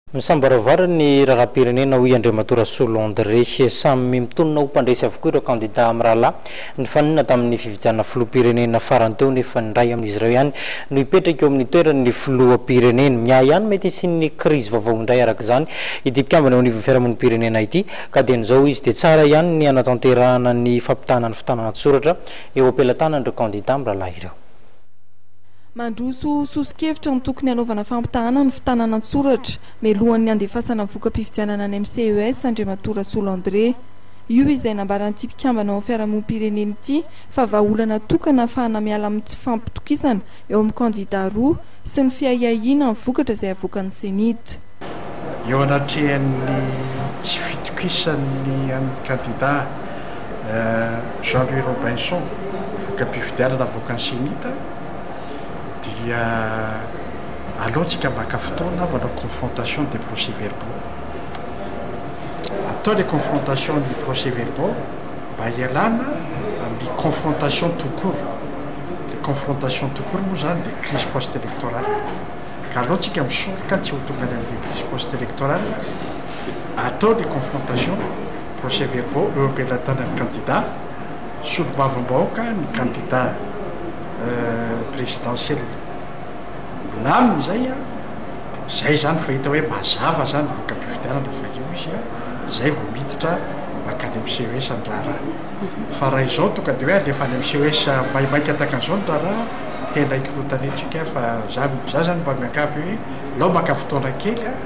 Misambaravara ny raharaham-pirenena, hoy Andriamatoa Rasolo André. Samy mitonona ho mpandresy avokoa ireo kandidà mirahalahy nifanena tamin'ny fifidianana filoham-pirenena farany teo nefa ny iray amin'izy ireo ihany no hipetraka eo amin'ny toeran'ny filoham-pirenena. Ny ahy ihany mety hisian'ny krizy vaovao indray araka izany ity mpikambana eo anivon'ny fiarahamonim-pirenena ity ka dian'izao hoy izy dia tsara ihany ny hanatanterahana ny fampitahana ny fitànana an-tsoratra eo am-pelatanan'ireo kandidà mirahalahy ireo. Mandroso soso-kevitra ny tokony hanaovana fampitahana ny fitanana an-tsoratra mialohan'ny handefasana voka-pifidianana ny MCES Andriamatoa Rasolo André. Io izay nambaran'ity mpikambana ao amin'ny fiarahamonim-pirenena ity fa vahaolana tokana hahafahana miala amin'ny tsy fampitokisana eo amin'ny kandidà roa sy ny fiahiahiana ny vokatra izay havoakan'ny CENI-T. Eo anatrehan'ny tsy fitokisan'ny an'ny kandidà Jean Louis Robinson voka-pifidianana avoakan'ny CENI-T, dia aleontsika maka fotoana manao confrontation des procès verbaux. Atao ilay confrontation ny procès verbaux mba hialana amin'ny confrontation tout court. Ilay confrontation tout court moa izany dia crise post-électorale. Ka aleontsika misoroka tsy ho tonga any amin'ilay crise post-électorale, atao ilay confrontation, procès verbaux eo am-pelatanan'ny kandida. Solombavambahoaka ny kandida presidentielle. Milamina izay an! Izay izany fa hita hoe mazava izany ny voka-pifidianana fa eo izy an! Izay vao miditra mankany amin'ny CES ny raharaha. Fa raha izao tonga dia hoe alefa any amin'ny CES maimaika takan'izao ny raharaha, tena hikorotana etsy ika fa za, za izany mba miangavy hoe alao maka fotoana kely an!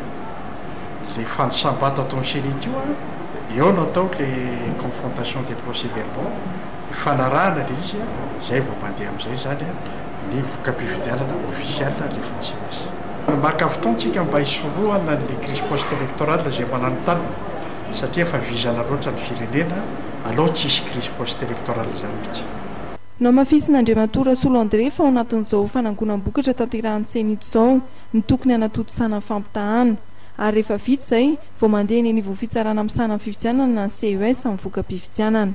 Ilay fanisam-bato ataon'ny ceni ity an! Eo no atao ilay confrontation des procès-verbaux, ifanarahana ilay izy, izay vao mandeha amin'izay izany ny voka-pifidianana ofisialy alefan'ny CENI. Maka fotoana isika mba hisorohana an'ilay crise post-electorale izay mananontanona satria efa vizana loatra ny firenena, alao tsy hisy crise post-electorale izany mihitsy. Nohamafisin'Andriamatoa Rasolo André fa ao anatin'izao fanangonam-bokatra tanterahin'ny CENI izao ny tokony hanatontosana ny fampitahana. Ary rehefa vita izay, vao mandeha eny anivon'ny fitsarana misahana ny fifidianana na ny CES amin'ny voka-pifidianana.